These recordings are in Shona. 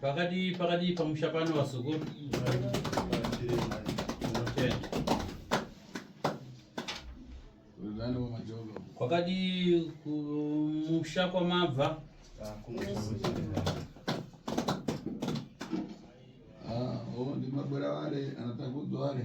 pakati pakati pamusha pano vazukuru kwakadi kumusha kwamabva ah, oh, ndimabwera wale anatakudzwa wale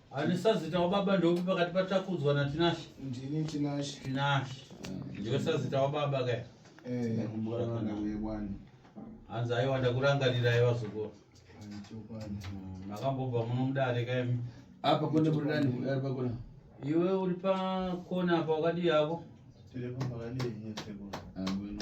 Ani sazita wababa ndopi pakati patakudzwa na Tinashe? Ndini Tinashe. Tinashe. Ndiwe sazita wababa kaya? Eh, ndakumbura kana uye bwana. Hanzi aiwa ndakurangarira aiwa zoko. Mm, makambobva muno mudare kaya mi. Apa kone kuri nani kudare pakona? Iwe uri pakona apa wakadii hako? Tiri pambakadii nyese kona. Ah, bueno.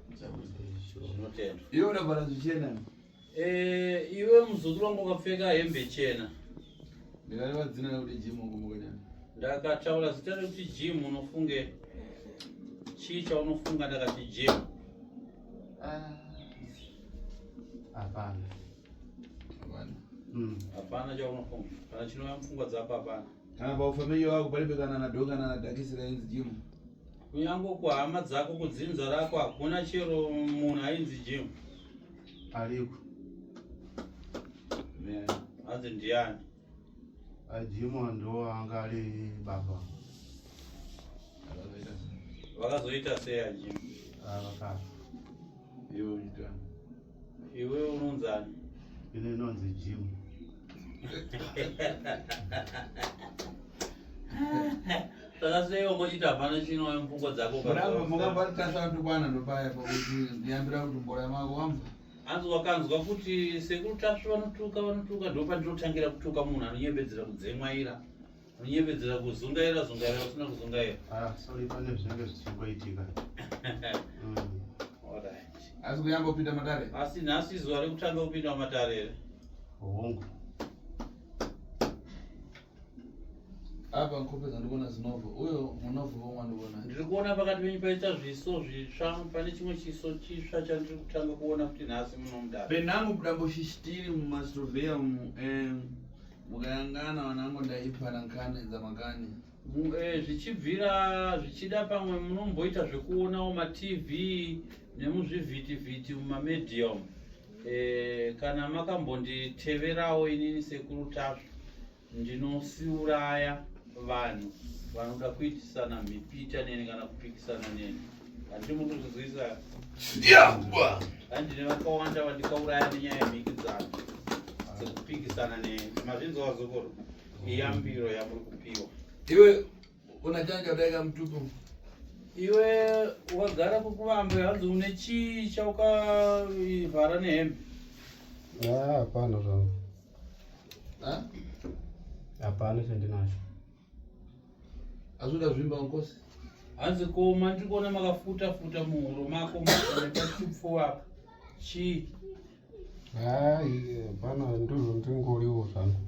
iwe unavara zvichena eh, iwe muzukuru wangu ukapfeka hembe chena ndikatava dzina rekuti jim ukumukanyana ndakataura zita rekuti jim unofunge chii chaunofunga ndakati jim ah. hapana hmm. hapana chaunofunga kana chinouya mupfungwa dzako hapana kana paufamiliya wako palibe kana nadho kana nadhakisira inzi jim Kunyange kuhama dzako kudzinza rako hakuna chero munhu ainzi Jim. Ariko. Ne, hanzi ndiani? Ajimu ah, ndo anga ari baba. Vakazoita sei Ajimu? Ah, vakafa. Ivo ndani. Iwe unonzani? Ini ndinonzi Jim. Saka sei ungochita hapana chinowe mupfungwa dzako Muramba mukabaritasha tukwana ndopaya pakuti ndiyambira kuti mboya mako wamva. Hanzi wakanzwa kuti sekuru tasvu vanotuka vanotuka ndopandinotangira kutuka munhu anonyebedzera kudzemwaira. Kunyepedzera kuzungaira zungaira usina kuzungaira. Ah, sorry pane zvinenge zvichimboitika. Mm. Alright. Asi kuyamba kupinda matare. Asi nhasi zuva rekutanga kupinda matare here? Hongu. Apa nkope dzandikuona dzinovo. Uyo munovo vomwe ndikuona. Ndiri kuona pakati penyu paita zviso zvitsva pane chimwe chiso chitsva chandiri kutanga kuona kuti nhasi munomudara. Penangu budambo shishitiri mumastrovea umu. Um, mukayangana vanango ndaipara nkani dzamakani eh, zvichibvira zvichida pamwe munomboita zvekuonawo matv nemuzvivhitivhiti mumamedium eh, kana makambonditeverawo inini sekuru tasvu ndinosiuraya vanhu vanoda kuitisana mipita neni kana kupikisana neni andine vakawanda vandikauraya nenyaya yemhikidzano dzekupikisana nemazvinzi wazokoro iyambiro yamuri kupiwa iwe kuna changa chadaika mutupo iwe wagara kukuvambe hanzi une chii chaukavhara nehembe ah, hapana zvangu hapana chandinacho Azoda zvimba nkosi. Hanzi koma ndiri kuona makafuta futa muhuro mako makachipo apa. Chi. Hayi bana ndizvo ndingoriwo zvangu.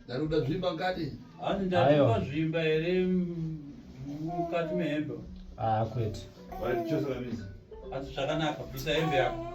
Ndaruda zvimba ngati. Hanzi ndatipa zvimba here mukati mehembe. Ah kwete. Wari chose vamizi. Hanzi zvakanaka bvisa hembe yako.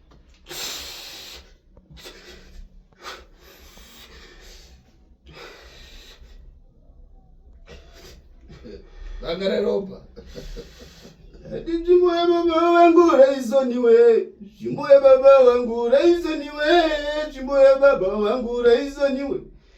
akareropa ndinzvimbo yababa vangu raisoniwe nzvimbo yababa vangu raisoniwe nzvimbo yababa vangu raisoniwe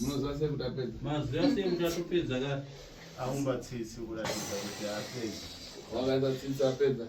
munoziva sei kuti apedza maziva sei kuti atopedza ka aumba tsitsi kuratidza kuti apedza wakaita tsitsi apedza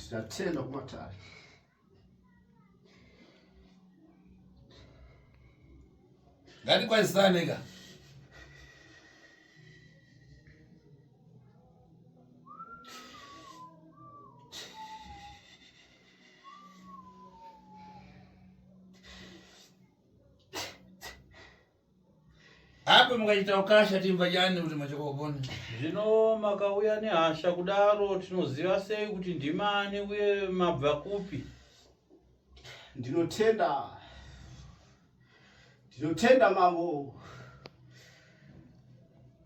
Statena kumatari Gani kwa Islam nigga. apo mukaita ukasha timva chani kuti machokopona zvino makauya nehasha kudaro tinoziva sei kuti ndimani uye mabva kupi ndinotenda ndinotenda mambo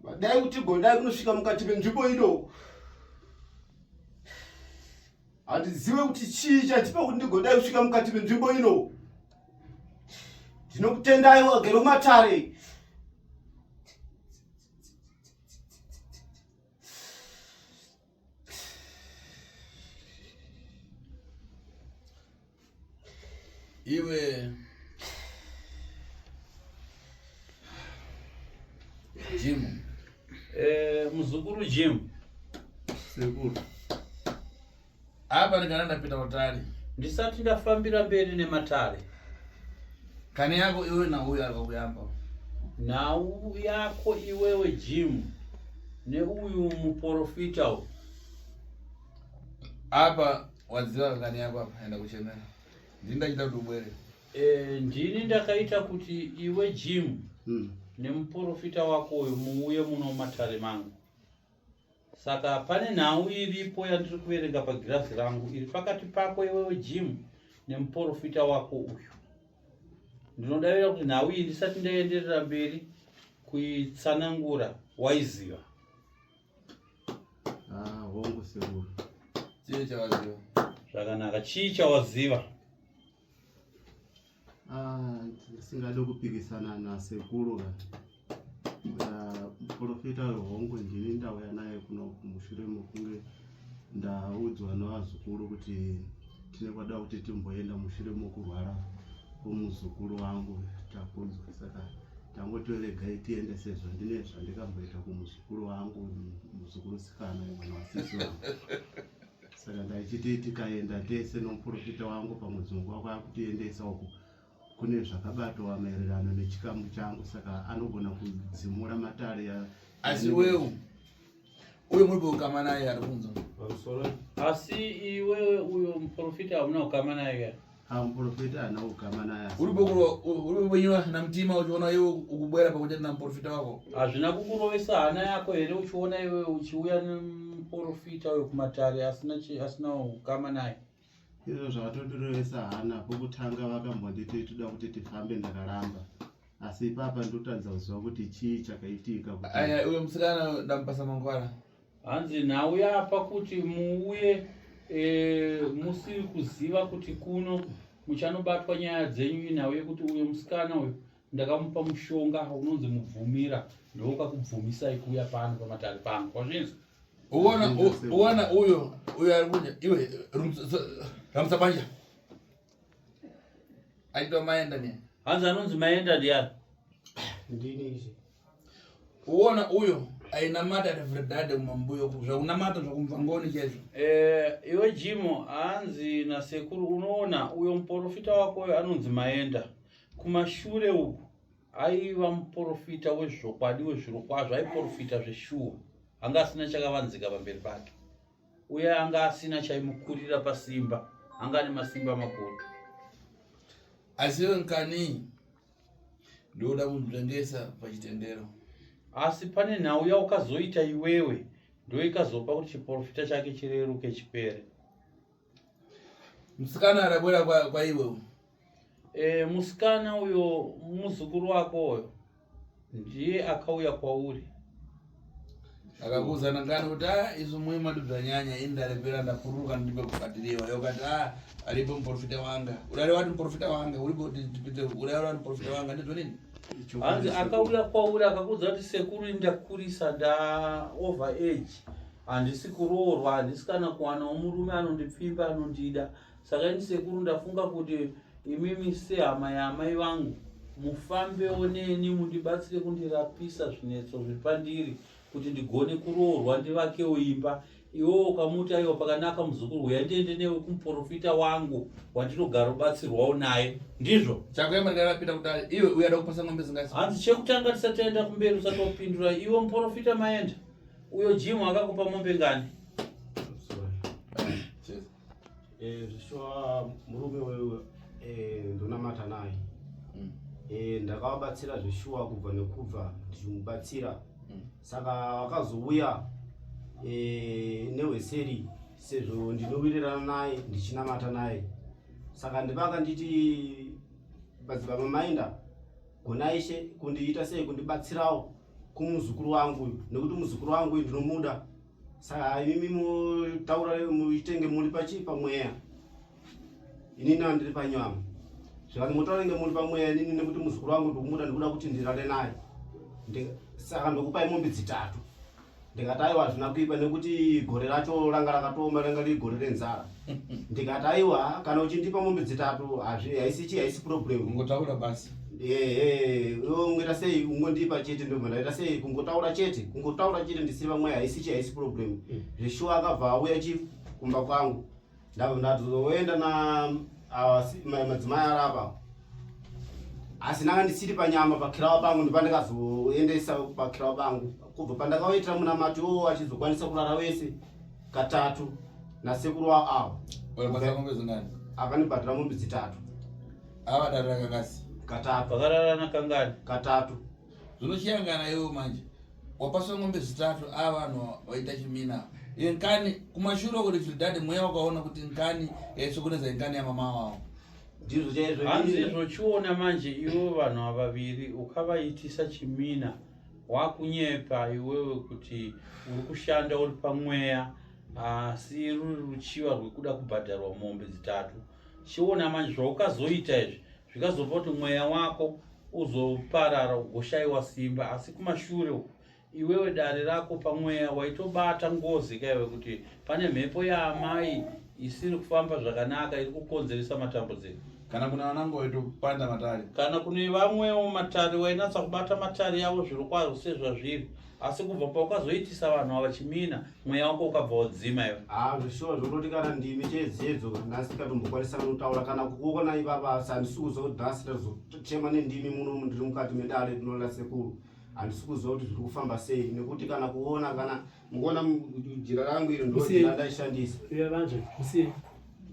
vadai kuti gondai kunosvika mukati menzvimbo ino handizive kuti chii chatipa kuti ndigodai kusvika mukati menzvimbo ino ndinokutendai wagere mumatare iwe jim eh, muzukuru jim sekuru Apa ndikana ndapinda kutari. Ndisati ndafambira mberi nematare. Kani yako iwe na uyu ari kuyamba. Nhau yako iwewe Jim neuyu muporofita uyu. Apa wadziva kani yako apa enda kuchemera. Ndini ndachita kuti ubwere. Eh, ndini ndakaita kuti iwe Jim. Mm. nemuporofita wako uyu muuye muno matare mangu Saka pane nhau iripo yandiri kuverenga pagirazi rangu iri pakati pako iwewe Jim nemuporofita wako uyu. Ndinodavira kuti nhau iyi ndisati ndaenderera mberi kuitsanangura waiziva. Ah, hongu sekuru. Chii chawaziva? Zvakanaka, chii chawaziva? ndisingade ah, kupikisana nasekuru ka ah, muprofita uyo hongu ndini ndauya naye kuno kumushure mokunge ndaudzwa nevazukuru kuti tine kwada kuti timboenda mushure mokurwara kwomuzukuru wangu takunzwa saka tangotoregai tiende sezvo ndine zvandikamboita kumuzukuru wangu muzukuru sikana mwana wasisi wangu saka ndaichiti tikaenda tese nomuprofita wangu pamudzungu wako akutiendesa uku kune zvakabatwa maererano nechikamu changu saka anogona kudzimura matare ya asi wewo uyo muri paukama naye ari kunzwa asi iwewe uyo muprofita hamuna kukama naye Amuporofita ana ukama naye. Uri bokuro uri bonywa na mtima uchiona iwe ukubwera pakuti na muporofita wako. Hazvina kukurovesa hana yako here uchiona iwe uchiuya nemuporofita uyo kumatare asina asina ukama naye. Izvo zvakatotirovesa hana pokutanga vakambonditi toda kuti tifambe ndakaramba. Asi ipapa ndotadza kuziva kuti chii chakaitika kuti. Aya uyo musikana ndamupasa mangwara. Hanzi nhau yapa kuti muuye e, musiri kuziva kuti kuno muchanobatwa nyaya dzenyu inhau yekuti uyo musikana uyo ndakamupa mushonga unonzi mubvumira ndokakubvumisai kuuya pano pamatare pangu kwazvinzi uona uona uyo uyo ari kunya iwe ramutsa banja aitwa maenda ne hanzi anonzi maenda ndiani ndini izvi uona uyo ainamata ati vredade kumambuyo zvakunamata zvakumvangoni chezvo eh iwe jimo hanzi nasekuru unoona uyo muporofita wako uyo anonzi maenda kumashure uku aiva muporofita wezvokwadi wezvirokwazvo aiporofita zveshuwa anga asina chakavanzika pamberi pake uye anga asina chaimukurira pasimba anga ane masimba makuru asi iwe nkani ndooda kunditengesa pachitendero asi pane nhau yaukazoita iwewe ndoikazopa kuti chiporofita chake chireruke chipere musikana arabwera kwaiwe kwa E, musikana uyo muzukuru wako uyo ndiye akauya kwauri akakuuza nangani kuti a ah, izvo mwe madubzanyanya ini ndarepera ndapururuka ndipe kubhadhiriwa yokati a ah, aripo muprofita wanga urare wati muprofita wanga uripotipite urare wati muprofita wanga ndizvo nini hanzi akauya kwauri akakuudza kuti sekuru ndakurisa nda over age handisi kuroorwa handisi kana kuwanawo murume anondipfimba anondida Saka ini sekuru ndafunga kuti imimi sehama yaamai vangu mufambewo neni mundibatsire kundirapisa zvinetso zviri pandiri kuti ndigone kuroorwa ndivakewo imba iwewo ukamuti aiwa pakanaka muzukuru huya ndiende newe kumuprofita wangu wandinogara ubatsirwawo naye ndizvo chakuemaringarapita kudai iwe uyada kupasa ngombe zingasi hanzi chekutanga tisataenda kumberi usatopindura iwe muprofita maenda uyo jimu akakupa mombe ngani Eh, zvishuwa murume wewe eh, ndonamata naye mm. eh, ndakavabatsira zvishuwa kubva nekubva ndichimubatsira mm. saka vakazouya neweseri sezvo ndinowirirana naye ndichinamata naye saka ndivaka nditi badzibaba mainda gona ishe kundiita sei kundibatsirawo kumuzukuru wangu uyu nekuti muzukuru wangu uyu ndinomuda Saka imimi mutaura muitenge muri pachi pamweya. Ini na ndiri panyama. Zvakati mutaura inge muri pamweya ini nekuti muzukuru wangu ndikumuda ndikuda kuti ndirare naye. Saka ndokupai mombe dzitatu. Ndikati aiwa hazvina kuipa nekuti gore racho ranga rakatooma ranga riri gore renzara. ndikati aiwa kana uchindipa mombe dzitatu hazvi- haisi chii haisi problem ungotaura basi ehe iwe ungoita sei ungondipa chete ndobva ndaita sei kungotaura chete kungotaura chete ndisiri vamwe haisi chii haisi problem Mm. zveshuwa akabva auya chief kumba kwangu ndabva ndatozoenda na awa si- ma- madzimai arapa asi nanga ndisiri panyama pakirawa pangu ndipandikazoendesa pakirawa pangu kubva pandakaoitira munamato wo achizokwanisa kurara wese katatu nasekuru wavo avo Walipasa ng'ombe zingani? akanibhadhira mombe dzitatu Ava darira kakasi. katatu vakararana kangani katatu Zvinosiyangana iwo manje. Wapaswa ng'ombe zitatu ava vanhu vaita chimina. Iye nkani kumashure kuri Trinidad mweya wakaona kuti nkani yaisokoneza nkani yamama wavo. ndizvo chaizvo hanzi izvi. zvochiona manje ivo vanhu vaviri ukavaitisa chimina Wakunyepa iwewe kuti uri kushanda uri pamweya asi ruri ruchiva rwekuda kubhadharwa mombe dzitatu. Chiona manje zvaukazoita izvi zvikazopa kuti mweya wako uzoparara ugoshaiwa simba asi kumashure uku iwewe dare rako pamweya waitobata ngozi kaiwe kuti pane mhepo yaamai isiri kufamba zvakanaka iri kukonzeresa matambudziko. kana kune vananga vaitopanda matare kana kune vamwewo matare wainatsa kubata matare yavo zviri kwazvo sezvazviri asi kubva paukazoitisa vanhu ava chimina mweya wako ukabva wadzima iwe haa zvishuwa zvokuti kana ndimi cheedzedzo nhasi tikatombokwanisa kanotaura kana kukuona ivava asi handisi kuziva kuti nhasi tatochema nendimi muno mundiri mukati medare rinola sekuru handisi kuziva kuti zviri kufamba sei nekuti kana kuona kana Mukuona jira rangu iri ndojira ndaishandisa. Iwe vanzve, musiye.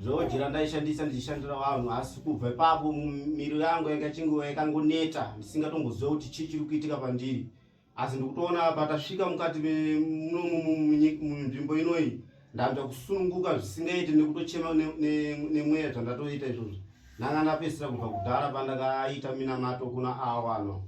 Ndojira ndaishandisa ndichishandira vanhu asi kubva ipapo miri yangu yakachingiwa yakangoneta ndisingatomboziva kuti chii chiri kuitika pandiri. Asi ndikutoona patasvika mukati munzvimbo inoyi ndanzwa kusununguka zvisingaiti nekutochema nemweya zvandatoita izvozvo. Ndanga ndapedzisira kubva kudhara pandakaita minamato kuna awa no.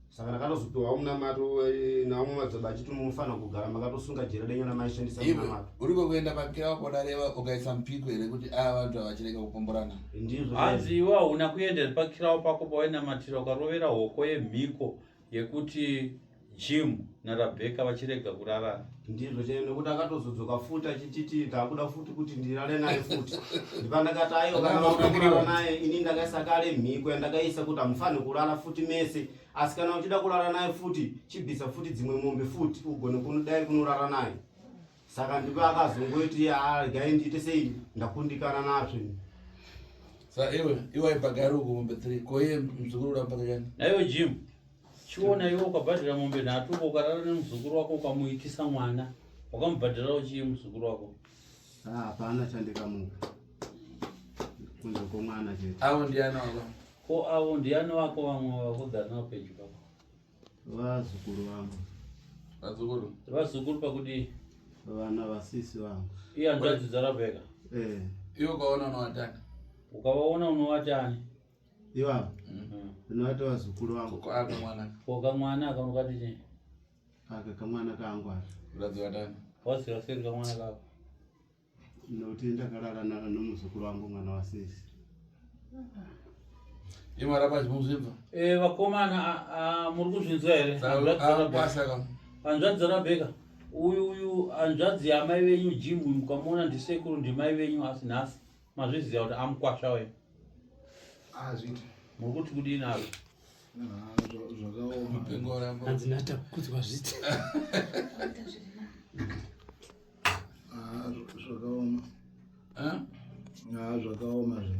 saka ndakatozopiwa munamato eh, nawo mumadzaba achiti munofanira kugara makatosunga jere denyu namaishandisa munamato uri kwekuenda pakira wako dareva ukaisa mupiko here kuti aya vantu avachirega kupomborana ndizvo hanzi iwe hauna kuendera pakirawo pako pawainamatira ukarovera hoko yemhiko yekuti jim narabheka vachirega kurarana Ndizvo chaivo nekuti akatozodzoka futi achititi ndakuda futi kuti ndirare naye futi ndipandakati aiwa kana vakuda kurara naye ini ndakaisa kale mhiko yandakaisa kuti hamufanhi kurara futi mese asi kana uchida kurara naye futi chibvisa futi dzimwe mombe futi ugone kunodai kunorara naye saka ndipo akazongoiti gai ndiite sei ndakundikana nazvo sa iwe iwaipa gari ukumombe three koye mzukuru udampakachani naiwe jim chiona iwe ukabhadhira mombe nhatu uko ukarara nemuzukuru wako ukamuitisa mwana wakamubhadhirawo chii muzukuru wako ah, hapana chandikamuka kunze kwomwana chete avo ndiani wako ko avo ndiani wako vamwe vakugara navo pedyo pako vazukuru vangu vazukuru vazukuru pakudii vana vasisi vangu iye hanzvadzi dzarabheka eh. iwe ukaona unovatani ukavaona unovatani Iwa. Mm. Ndinoita vazukuru vangu. Ko aka mwana. Ko ka mwana aka mukati chii? Aka ka mwana kangu aka. Mukadzi wa ndani. Wasi wasi ka mwana kako. Ndoti ndakarara naka nomuzukuru wangu mwana wa sisi. Iwa rapa zvimuzvibva. Eh vakomana a muri kuzvinzwa here? Basa ka. Panzwa dzara beka. Uyu uyu anzvadzi yamai venyu Jim mukamona ndisekuru ndimai venyu asi nhasi. mazviziva kuti amukwasha we azviti ah, muri kuti kudii nazvo zvakaomaadzinata kuti vazviti zvakaoma zvakaoma zve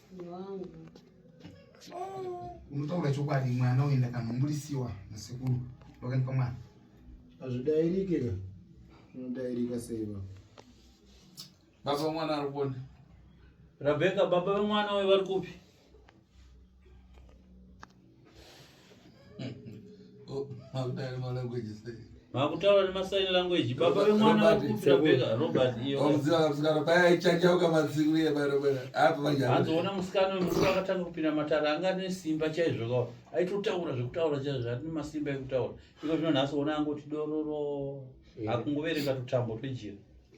unotaura chokwadi mwana uyu ndakanhumburisiwa nasekuru vakanipa mwana hazvidairike ka unodairika sei va baba vemwana ari kuona rabheka baba vemwana uyu vari kupi makutaura nemasign language baba vemwana vakupirabeka robert iyoazoona musikana wemurume akatanga kupinda matara anga ane simba chaizvo kao aitotaura zvekutaura chaizvo zvati nemasimba ekutaura iko zvino nhasi ona angoti dororo akungoverenga tutambo twejira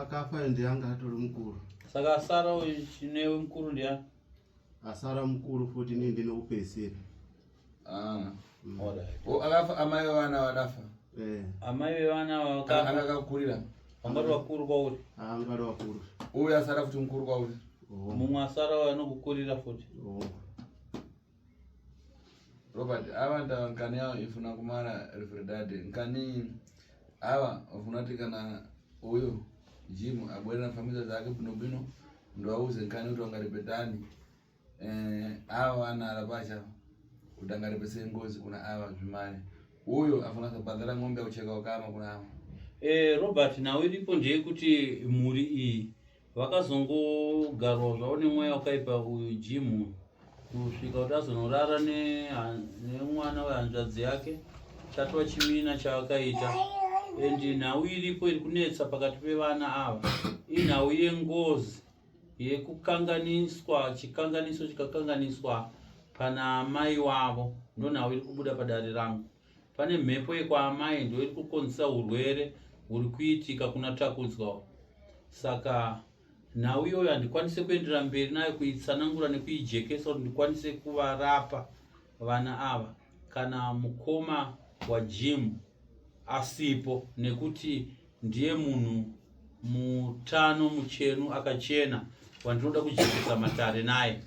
akafa ndiye anga atori mukuru saka asara uyu chinewe mukuru ndiya asara mukuru futi nii ndinokupedzisira ah, mm. akafa amai vevana vadafa eh. amai vevana vakakurira vangati vakuru kwauri angati ah, vakuru uyu asara futi mukuru kwauri oh. mumwe asara anokukurira futi oh. Robert ava ndava nkani yavo ifuna kumara refredade nkani ava vafuna kuti kana uyo jimu abwerera famisa dzake bino bino ndovauze nkani kuti vangaripe tani eh, ava vanara pacha kuti angaripe sei ngozi kuna ava zvimari uyo afuna kubhadhara ng'ombe yakucheka ukama kuna ava Eh, Robert nhau iripo ndeyekuti mhuri iyi Vakazongogarwa zvavo nemweya wakaipa uyu Jim kusvika kuti azonorara nemwana wehanzvadzi yake tatwa chimina chavakaita and nhau iripo iri kunetsa pakati pevana ava inhau yengozi yekukanganiswa chikanganiso chikakanganiswa pana amai wavo ndonhau iri kubuda padare rangu Pane mhepo yekwaamai ndo iri kukonzesa urwere huri kuitika kuna Takunzwa. Saka nhau iyoyo handikwanise kuenderera mberi nayo kuitsanangura nekuijekesa kuti ndikwanise kuvarapa vana ava kana mukoma wajim asipo nekuti Ndiye munhu mutano muchenu akachena wandinoda kujekesa matare naye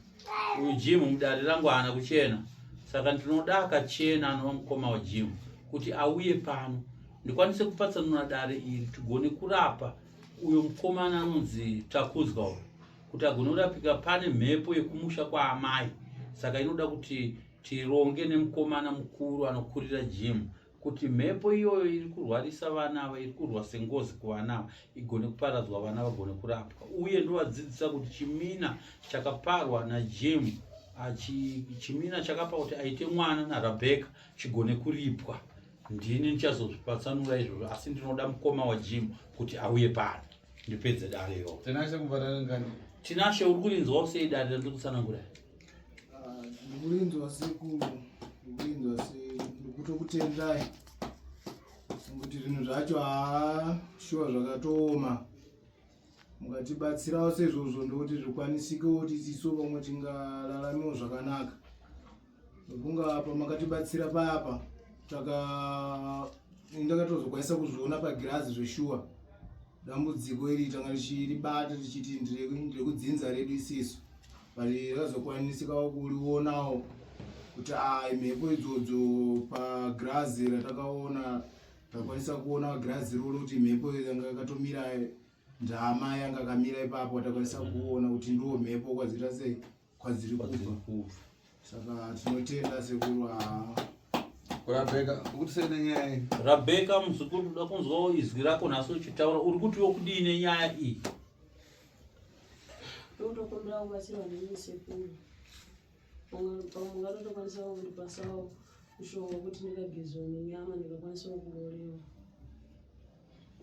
uyu jim mudare rangu haana kuchena saka ndinoda akachena anova mukoma wajim kuti auye pano ndikwanise kupatsanura dare iri tigone kurapa uyo mukomana anonzi takunzwa uyo kuti agone kurapika pane mhepo yekumusha kwaamai saka inoda kuti tironge nemukomana mukuru anokurira jim kuti mhepo iyoyo iri kurwarisa vana ava iri kurwa sengozi kuvana ava igone kuparadzwa vana vagone kurapwa uye ndovadzidzisa kuti chimina chakaparwa najemu chimina chakapa kuti aite mwana narabheka chigone kuripwa ndini ndichazozvipatsanura izvozvo asi ndinoda mukoma wajemu kuti auye pano ndipedze dare iro tinashe uri kurinzwawo sei dare randiri kutsanangura Ah, ndikurinzwa sekuru ndikurinzwa se ndikutokutendai kuti zvinhu zvacho haa shuwa zvakatooma mukatibatsirawo sezvozvo ndokuti zvikwanisikewo kuti tiso pamwe tingararamiwo zvakanaka nekunga pamakatibatsira payapa taka ndakatozokwanisa kuzviona pagirazi zveshuwa dambudziko iri tanga richiribata tichiti ndire kudzinza redu isisu bari razokwanisikawo kurionawo kuti ai mhepo idzodzo pagirazi ratakaona takwanisa kuona girazi rolo kuti mhepo yanga yakatomira ndama yanga akamira ipapo takwanisa kuona kuti ndo mhepo kwadziita sei kwadziri kubva saka tinotenda sekuru haa rabheka muzukuru uda kunzwawo izwi rako nhasi uchitaura uri kuti wokudii nenyaya iyi Ndotokumbira kubatsirwa nemi sekuru. Pamwe ngatotokwanisa kundipasawo mushonga kuti ndikagezwa nenyama ndikakwanisa kurorewa.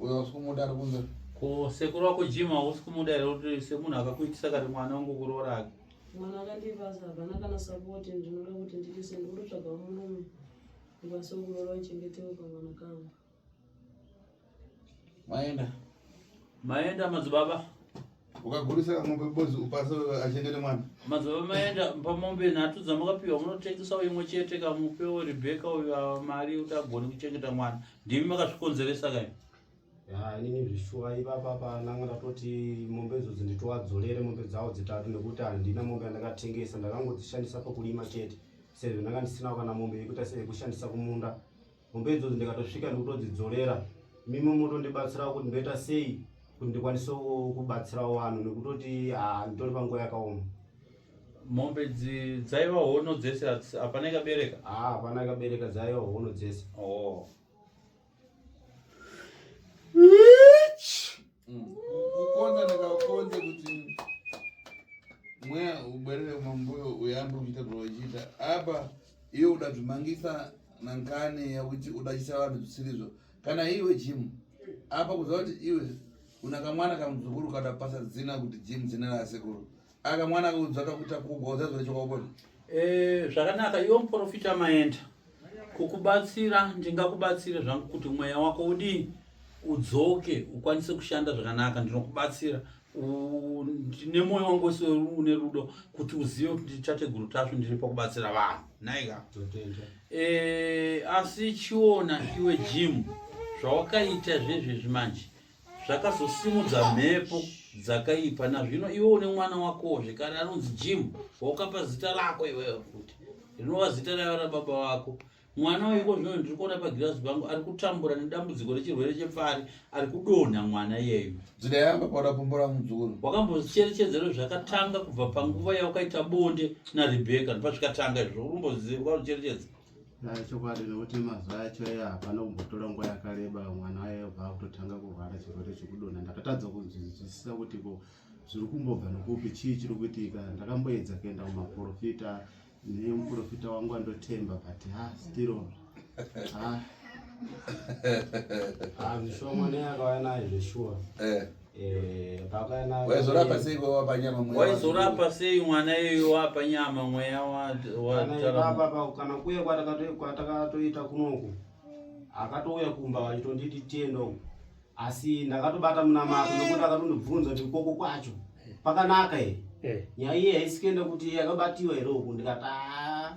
Uyo usikumuda ari kunze. Ko sekuru wako Jim hausi kumuda here kuti semunhu akakuitisa kati mwana wangu kuroora ake? Mwana akandipasa hapana kana support ndinoda kuti nditise ndikutotsvaga murume ndikwanise kuroora uchengetewo kamwana kangu. Maenda. Maenda madzibaba. Ukagurisa mombe bozi upasa achengete mwana. Madzibaba maenda pamombe nhatu dzamakapiwa munotengesawo imwe chete kamupewo Rebecca uyo ah, mari kuti agone kuchengeta mwana. Ndimi makazvikonzeresa kai? Ya inini zvishuwa ipapa pananga ndatoti mombe idzodzi nditowadzorere mombe dzawo dzitatu nekuti handina mombe yandakatengesa ndakangodzishandisa pakurima chete sezvo ndanga ndisinawo kana mombe yekuita seyekushandisa kumunda. mombe idzodzo ndikatosvika ndikutodzidzorera mimi motondibatsirawo kuti ndoita sei kuti ndikwanise kubatsirawo vanhu nekutoti ah, nditori panguva yakaoma mombe dzaiva hono dzese hapana ikabereka ah, hapana ikabereka dzaiva hono dzese oh. Mm. Kukonza ndakakonze kuti mweya ubwerere mambuyo uyambe kuita zvawachiita apa iwe uda zvimangisa nankani yakuti uda chisa vanhu zvisirizvo kana iwe jimu apa kuziva kuti iwe una kamwana kamuzukuru kadapasa dzina kuti jimu dzina rasekuru aka mwana akaudzwa akakuita kugwa udzazwa nechokwakubona eh, zvakanaka iwo muprofita maenda kukubatsira ndingakubatsire zvangu kuti mweya wako udii udzoke ukwanise kushanda zvakanaka ndinokubatsira nemoyo wangu wese une rudo kuti uzive kuti ndichateguru tasvu ndiri pakubatsira vanhu naika eh, asi chiona iwe jimu zvawakaita zvezvezvi manje zvakazosimudza mhepo dzakaipa nazvino iwe une mwana wakowo zvekare anonzi jim waukapa zita rako iweyo futi rinova zita raiva rababa vako mwana uyuko zvino ndiri kuona pagirazi pangu ari kutambura nedambudziko rechirwere chepfari ari kudonha mwana iyeyu zita yamba paura pumbo ramuzukuru wakambocherechedzero zvakatanga kubva panguva yaukaita bonde narebeka ndipazvikatanga izvo ukumboziva ukacherechedza chokwadi nokuti mazuva acho ayo hapana kumbotora nguva yakareba mwana waye vakutotanga kurwara chirwere chekudonha ndakatadza kunzwisisa kuti ko zviri kumbobva nokupi chii chiri kuitika ndakamboedza kuenda kumaprofita nemuprofita wangu andotemba but ha stiro ha ah, zvishoma neyakauya nayo zveshuwa eh. waizorapa sei wapa nyama mweya waizorapa sei mwana iyoyo wapa nyama mweya watarapakana kuye kwatakatoita kunoku akatouya kumba wachitonditi tienda uku asi ndakatobata munamato nokuti akatondibvunza kuti koko kwacho pakanaka here eh. nyaya iye haisikuenda kuti yakabatiwa here uku ndikataa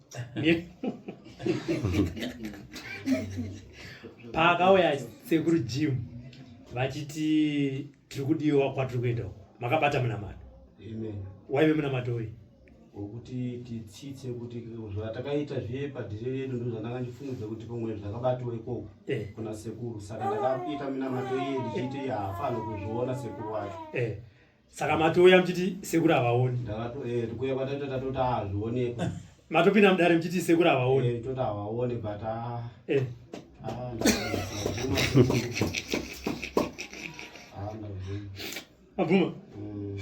paakauya sekuru jim vachiti tiri kudiwa kwatiri kuenda uko makabata munamato waive munamato uyi wekuti titsitse kuti zvatakaita zviye padhiri redu ndo zvandanga ndifungudza kuti pamwe zvakabatwa ikoko eh. kuna sekuru saka ndakaita minamato iye ndichiita iye haafanirwe kuzviona sekuru wacho eh. Saka matouya mchiti sekuru havaoni. Ndakato eh tikuya kwatata tatota hazvionekwi. Matopinda mudare mchiti sekuru havaoni. Eh tota havaoni but ah. Eh. Ah. Abuma. Mm.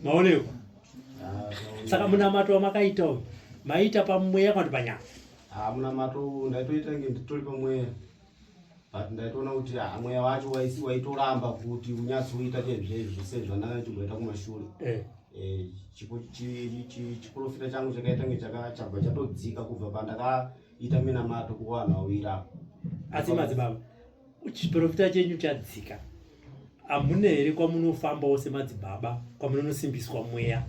Maoneko. Ah. Saka munamato wamakaita uyu. Maita pamweya kana panyama. Ah munamato ndaitoita nge nditori pamweya. but ndaitoona kuti ah, mweya wacho waitoramba kuti unyatsoita chezvezvi zvese zvandanga ndichimboita kumashure eh. Eh, chiprofita changu chakaita nge chakachabva chatodzika kubva pandakaita minamato kuvanhu vawira asi madzibaba chiprofita chenyu chadzika hamuna here kwamunofambawo semadzibaba kwamunonosimbiswa mweya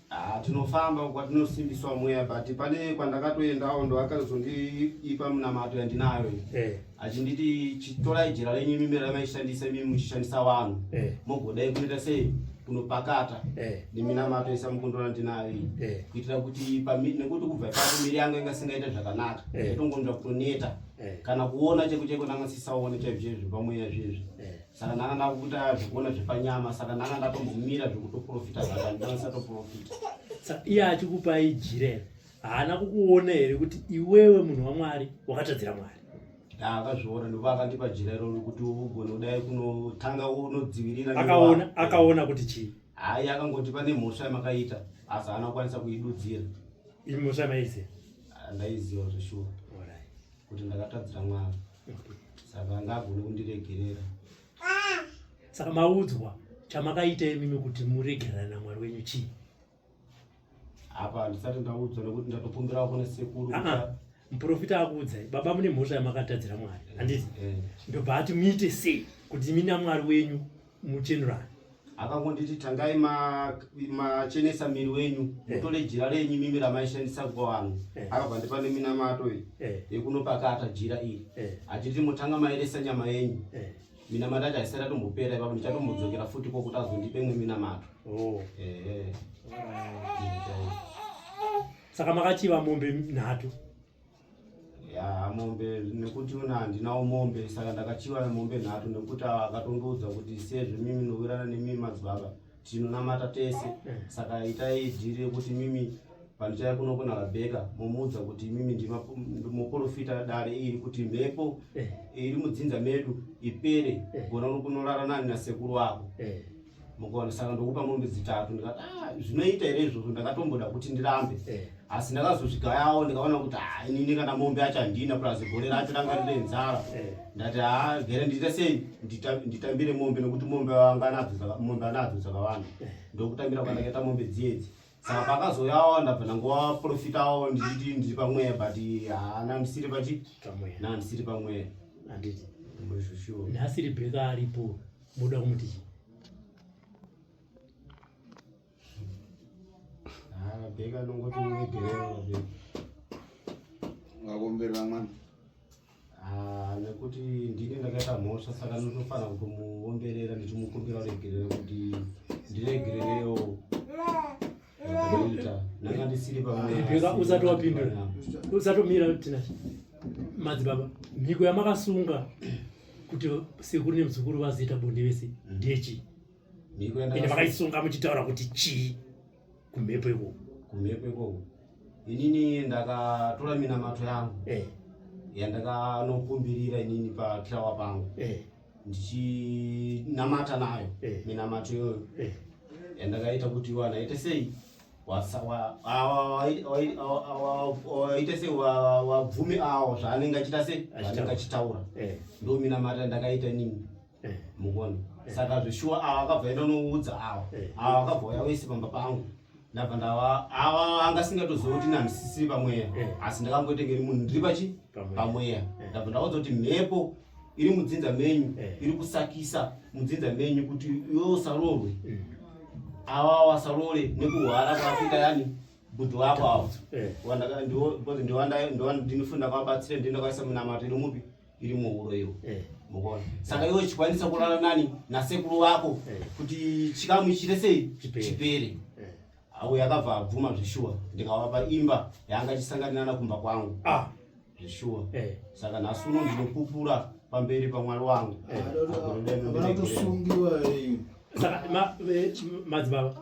Ah, tinofamba uko kwatinosimbiswa mweya but pane kwandakatoendawo ndo akazondiipa munamato yandinayo eh. achinditi chitorai jira renyu imimi ramaishandisa imimi muchishandisa vanhu eh. mogodai kunoita sei kunopakata eh. neminamato isa mukundora ndinayo iyi eh. kuitira kuti nekuti kubva ipapo miri yangu inga singaita zvakanaka eh. itongonzva kutoneta eh. kana kuona cheko cheko ndangasisaone chaizvo zvezvo pamweya zvezvo eh. saka ndanga ndakuita zvekuona zvepanyama saka ndanga ndatombomira zvekutoprofita zvaka ndanga ndisatoprofita iye achikupa ijire haana kukuona here kuti iwewe munhu wamwari wakatadzira mwari akazviona ndipo akandipa jira iroro kuti ugone kudai kunotanga unodzivirira akaona akaona kuti chii hayi akangoti pane mhosva yamakaita asi haana kukwanisa kuidudzira imhosva maiziva ndaiziva zveshuwa kuti ndakatadzira mwana saka anga agone kundiregerera saka maudzwa chamakaita imimi kuti muregerana namwari wenyu chii apa handisati ndaudzwa nekuti ndatokumbirawo kune sekuru muprofita akuudzai baba mune mhosva yamakatadzira mwari handiti eh. ndobva ati muite sei kuti imi namwari wenyu muchenurani akangonditi tangai machenesa ma miri wenyu eh. mutore hey. jira renyu mimi ramaishandisa kubva vanhu hey. Eh. akabva ndipa neminamato iyi hey. Eh. yekunopakata jira iri hey. achiti motanga maeresa nyama yenyu hey. minamato acho haisati atombopera ipapo ndichatombodzokera futi kwokuti azondipe imwe minamato oh. hey. saka makachiva mombe nhatu ya mombe nekuti una handinawo mombe saka ndakachiva mombe nhatu nekuti akatondiudza kuti sezvo mimi nowirana nemimi madzibaba tinonamata tese saka itai dhiri rekuti mimi pandichaya kuno kuna rabheka momuudza kuti mimi ndimoporofita dare iri kuti mhepo eh. iri mudzinza medu ipere eh. gona unokunorara nani nasekuru wako eh. mukaona saka ndokupa mombe dzitatu ndikati ah, zvinoita here izvozvo ndakatomboda kuti ndirambe eh. asi ndakazozvigayawo ndikaona kuti ha ah, inini kana mombe acho handina plus gore racho ranga rine nzara eh. ndati ha ah, gere ndiita sei nditambire mombe nekuti mombe mombe anadzo dzakawanda ndokutambira kwandakaita mombe dziedzi saka pakazouyawo ndabva ndangovaprofitawo ndichiti ndiri pamweya but haana ndisiri pachi pamweya na ndisiri pamweya handiti ndizvo sure nhasi rebheka aripo moda kumuti chii Ah, Rebecca anongoti unegerero Rebecca ngakumbirira mwana Ah, nekuti ndini ndakaita mhosva saka ndinofanira kutomuomberera ndichimukumbira uregerero kuti ndiregererewo ita ndanga ndisiri pamwe usati wapindura usatomira tina madzibaba mhiko yamakasunga kuti sekuru nemuzukuru vazoita bonde vese ndechi mhiko yandakasunga makaisunga muchitaura kuti chii kumhepo ikoko kumhepo ikoko inini ndakatora minamato yangu eh. yandakanokumbirira inini pakirawa pangu eh. ndichinamata nayo eh. minamato iyoyo eh. yandakaita kuti iwana ite sei waite se wabvumi awo zvaanenge achita se anenge achitaura eh. ndominamata ndakaita nini eh. mukoni eh. saka zveshuwa ava akabva enda unoudza ava eh. ava akabva uya wese pamba pangu ndabva ndava ava anga singatoziva kuti nandisisiri pamweya asi ndakangoitenge ri munhu ndiri pachi pamweya ndabva ndakaudza kuti mhepo iri mudzinza menyu iri kusakisa mudzinza menyu kuti iwewo saroorwe ava wasaroore nekuhwara kwakuita yani bhudhi wako avo ndiwandinofunda kwabatsire ndienda kwaisa munamato iri mupi iri muhuro iyo eh. mukuona saka iwe chikwanisa kurara nani nasekuru vako eh. kuti chikamu chite sei chipere eh. awo yakabva abvuma zveshuwa ndikavapa imba yaanga chisanganinana kumba kwangu ah. zveshuwa saka nhasi uno ndinopupura pamberi pamwari wangu madzibaba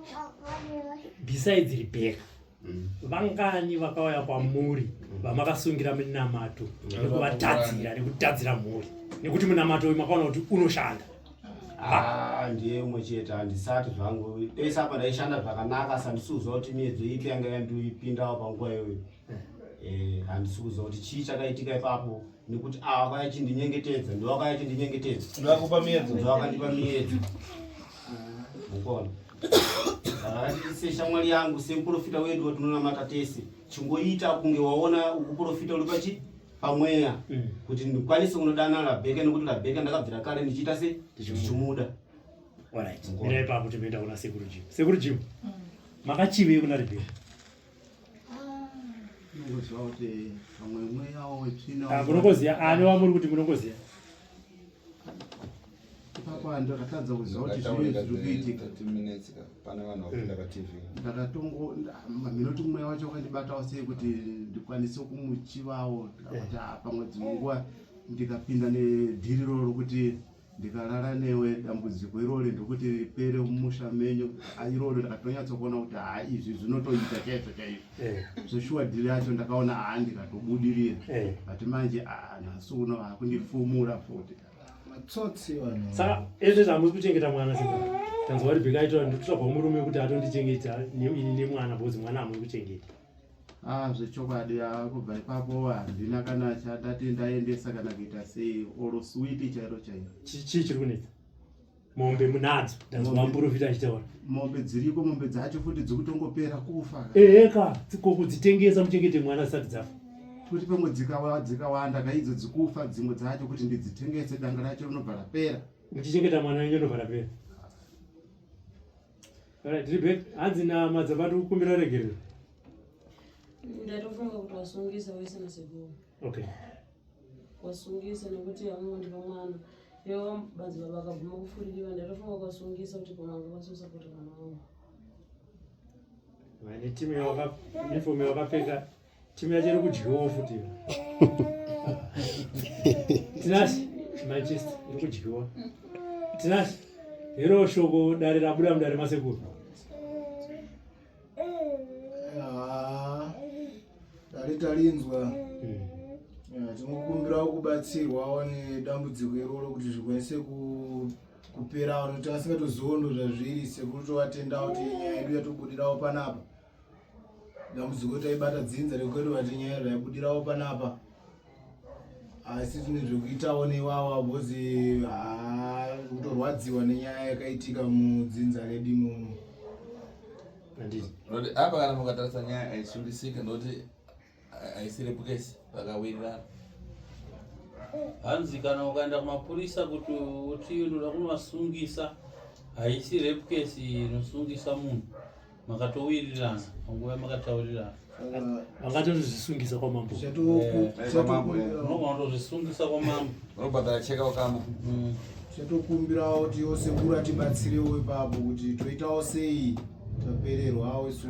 besides rebeka Mm. vangani vakauya kwamuri mm. vamakasungira minamato mm. nekuvatadzira nekutadzira mhuri nekuti munamato uyu makaona kuti unoshanda ah, ndiye umwe chete handisati zvangu pese apa ndaishanda zvakanaka sandisi kuziva kuti miedzo ipi yanga yandiipindawo panguva iyoyo eh. eh, handisi kuziva kuti chii chakaitika ipapo nekuti ava ah, kaya chindinyengetedza ndovakaya chindinyengetedza ndovakupa miedzo ndovakandipa miedzo mukona seshamwari yangu semuprofita wedu watinonamata tese chingoita kunge waona ukuprofita uri pachi pamweya mm. kuti ndikwanise kunodana rabheka nekuti rabheka ndakabvira kare ndichiita se ndichimuda ipapo tinoenda kuna sekuru jimu sekuru jimu mm. makachivei kuna rebheka Ah, munongoziva ani wamuri kuti munongoziva ndakatadza kuziva kuti zvii zviri kuitika ndakatongominoti mm. mweya wacho wakandibatawo sei kuti ndikwanise kumuchivawo kuti eh. pamwe dzimwe nguva ndikapinda nedhiri roro kuti ndikarara newe dambudziko irori ndokuti ripere mumusha menyu ah, irori ndakatonyatsokuona kuti haa ah, izvi zvinotoita chaizvo chaizvo eh. zvoshuwa dhiri yacho ndakaona haa ah, ndikatobudirira eh. but manje aa nhasi uno hakundifumura futi saka ezvezvo hamusi kuchengeta mwana saka tanzwa kuti bheka aitoa ndikutsvagwa murume kuti atondichengeta ini nemwana bhozi mwana hamuri kuchengeta Ah, zvechokwadi ah, kubva ipapo handina kana chandati ndaendesa kana kuita sei or switi chairo chairo chii chiri kunetsa mombe munadzo ndazomamborofita achitaura mombe dziriko mombe dzacho futi dzikutongopera kufa eheka dzikoko dzitengesa muchengete mwana zisati dzafa kuti pamwe dzikawanda kaidzo dzikufa dzimwe dzacho kuti ndidzitengese danga racho rinobva rapera muchichengeta mwana wenyu anobva rapera Alright, Rebecca, hanzi nama dzabati kukumbira regerero. Ndatofunga kuti wasungisa wese nasekuru. Okay. Wasungisa nekuti amungondipa mwana. Ivo badzi baba akabvuma kufurikiwa ndatofunga kuti wasungisa kuti pamanga vasusa kuti mwana wangu. Vane timu yawaka uniform yawakapfeka Chimwe chiri kudyiwa futi. Tinashe Manchester iri kudyiwa. Tinashe hero shoko dare rabuda mudare masekuru. Ah, dare tarinzwa. Hmm. Eh, tinokumbira kubatsirwawo nedambudziko iroro kuti zvikwanise kuperawo nokuti asingatoziwo ndo zvazviri sekuru tovatendawo kuti nyaya yedu yatobudirawo panapa dambudziko taibata dzinza rekwedu vati nyaya raibudirawo panapa asi tine zvekuitawo neiwawa bhozi kutorwadziwa nenyaya yakaitika mudzinza redu imomo apa kana mukatarisa nyaya aisundisika nokuti aisiri place vakawirirana hanzi kana ukaenda kumapurisa kuti uti unoda kunovasungisa haisi rape case inosungisa munhu makatowirirana panguva makataurirana vangatozvisungisa kwamambo unogona kutozvisungisa kwamambo Unobhadhara cheka wakama. Mm. Chatokumbirawo kuti yose kura tibatsirewo ipapo kuti toitawo sei tapererwawo so.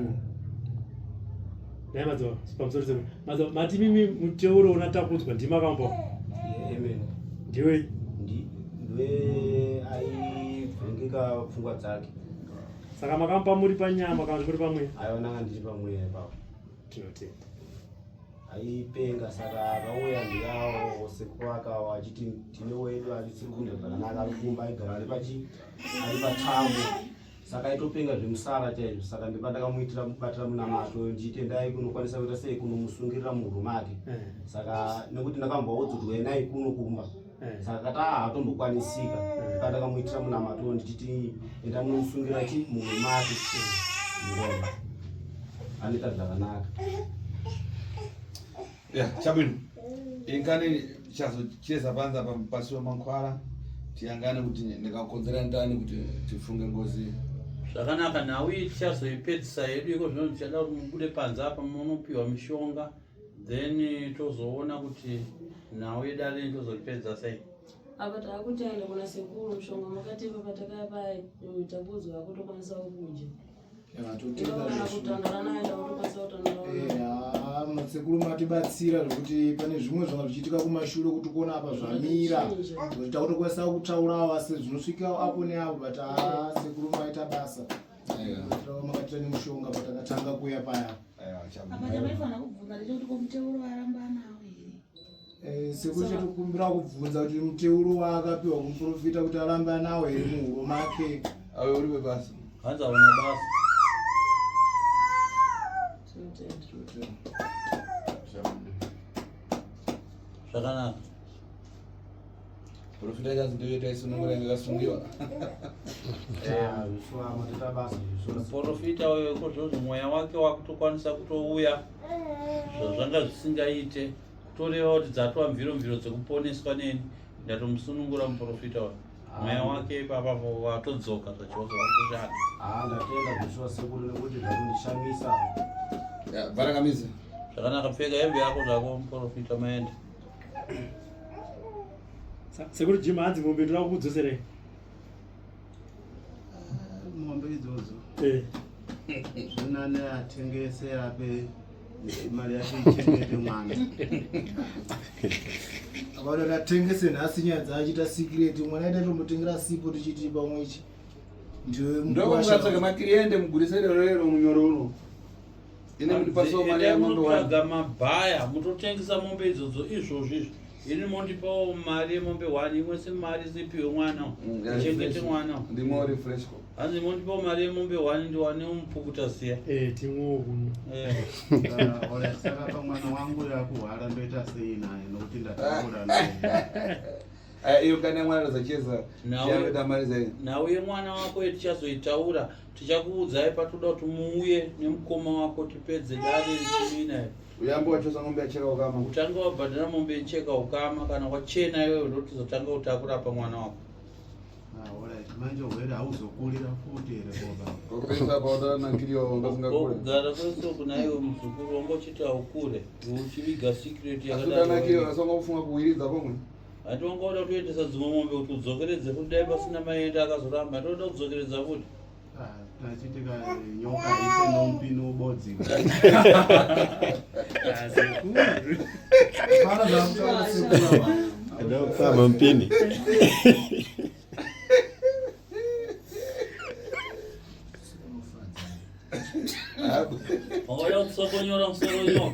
Dai madzo pamusoro sema. Madzo mati mimi muteuro unatakudzwa ndima kambo. Eh, amen. Ndiwe ndi ndiwe ai vengeka pfungwa dzake. Saka makampa muri panyama kana muri pamwe? Ayo nanga ndiri pamwe ipapo. Tinotenda. aipenga saka akauya ndiyawo sekuru akawa achiti tine wedu arisiri kunge zvakanaka ari kumba aigara ari pachi ari patambo saka aitopenga zvemusara chaizvo saka ndipa ndakamuitira kubatira munamato ndiite ndai kunokwanisa kuita sei kunomusungirira muhuro make eh. saka nekuti ndakamboudzwa kuti wenai kuno kumba Eh. saka kati aa hatombokwanisika eh. kana ndakamuitira munamato ndichiti enda munomusungira chi mumwe mati ngoma anoita zvakanaka ya chabwino ingani chazocheza panza pasi wemankhwala tiyangane kuti ndikakonzera ndani kuti tifunge ngozi zvakanaka nhau iyi tichazoipedzisa yedu iko zvino ndichada kuti mubude panze apa munopiwa mishonga then tozoona kuti nhau yedare rini tozoripedza sei apa taakuti aenda kuna sekuru mushonga makatepa patakaya paya mm, takuudzwa akutokwanisa kukudya kana kutandara naye takutokwanisa kutandara madzikuru matibatsira zvekuti pane zvimwe zvanga zvichiitika kumashure kuti kuona apa zvamira kuti takutokwanisa kutaurawo asi zvinosvikawo apo neapo but sekuru maita basa makatira nemushonga patakatanga kuya paya Eh, sekuti tikumbira kubvunza kuti muteuro waakapiwa kumuprofita kuti aramba nawo here muhuro make ave uri webasa hanzi aona basa zvakanaka Profita kazi ndiyo ita isunungura inga kasungiwa. Profita uyo kozvozvo mweya wake wakutokwanisa kutouya zvazvanga zvisingaite kutoreva kuti dzatwa mviro mviro dzekuponeswa neni ndatomusunungura muprofita uyo mweya wake ipapa vatodzoka zvachose vakushanda. Ah, ndatenda zveshuwa sekuru nekuti zvakundishamisa. Barakamizi. Zvakanaka pfeka hembe yako zvako muprofita maende. sekuru jim hanzi mombe toda kukudzoserei mombe idzodzo eh. zvinane atengese ape mari yake ichengete mwana avanoti atengese nhasi nyaya dzaachita sikireti mwana aita tomutengera sipo tichiti pamwe ichi ndokungatsvaga makiriende mugurisero rero munyoro uno ini mundipasawo mari yamombe wanotsvaga mabhaya mutotengesa mombe idzodzo izvozvo izvi ini mondipawo mari yemombe one imwe si mari sipiwe mwana mm, chengete mwana ndimo refreshko hanzi mondipawo mari yemombe one ndiwane umupukuta siya eh, timwewo kuno eh. ah, saka pamwana wangu yakuhwara ndoita sei naye nokuti ndataura naye Eh, iyo kana mwana anozocheza chianoita mari zai nhau yemwana wako yetichazoitaura tichakuudzai patoda kuti muuye nemukoma wako tipedze dare richimina uyambo wachosa mombe yacheka ukama utange wabhadhara mombe yecheka ukama kana wachena iwewe ndotizotanga kutakurapa mwana wako ah, manje hwere hauzokurira futi here bobaogara kwese kuna iwe muzukuru wangochiti aukure uchiviga secret yakadaaofunga kuwiridza pomwe Vati vanga vada kutoendesa dzimwe mombe kuti udzokeredze kuti dai pasina maenda akazoramba ndoda kudzokeredza kuti tachitika nyoka ise nompini ubodzi ndokufamba mpini Olha o que sou conhorão, sou conhorão.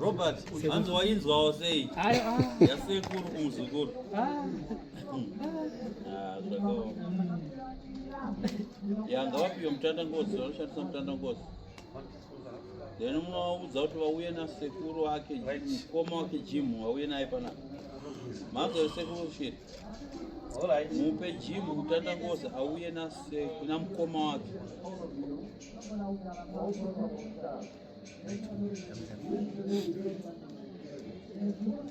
Robert, hanzi wainzwawo sei? Yasekuru kumuzukuru. Ah. yanga vapiwa mutanda ngozi vanoshandisa mutanda ngozi then munovaudza kuti vauye nasekuru wake mukoma wake jimu vauye naye panapa manzwa sekuru shiri mupe jimu kutandangoza auye nase kuna mukoma wake Thank you.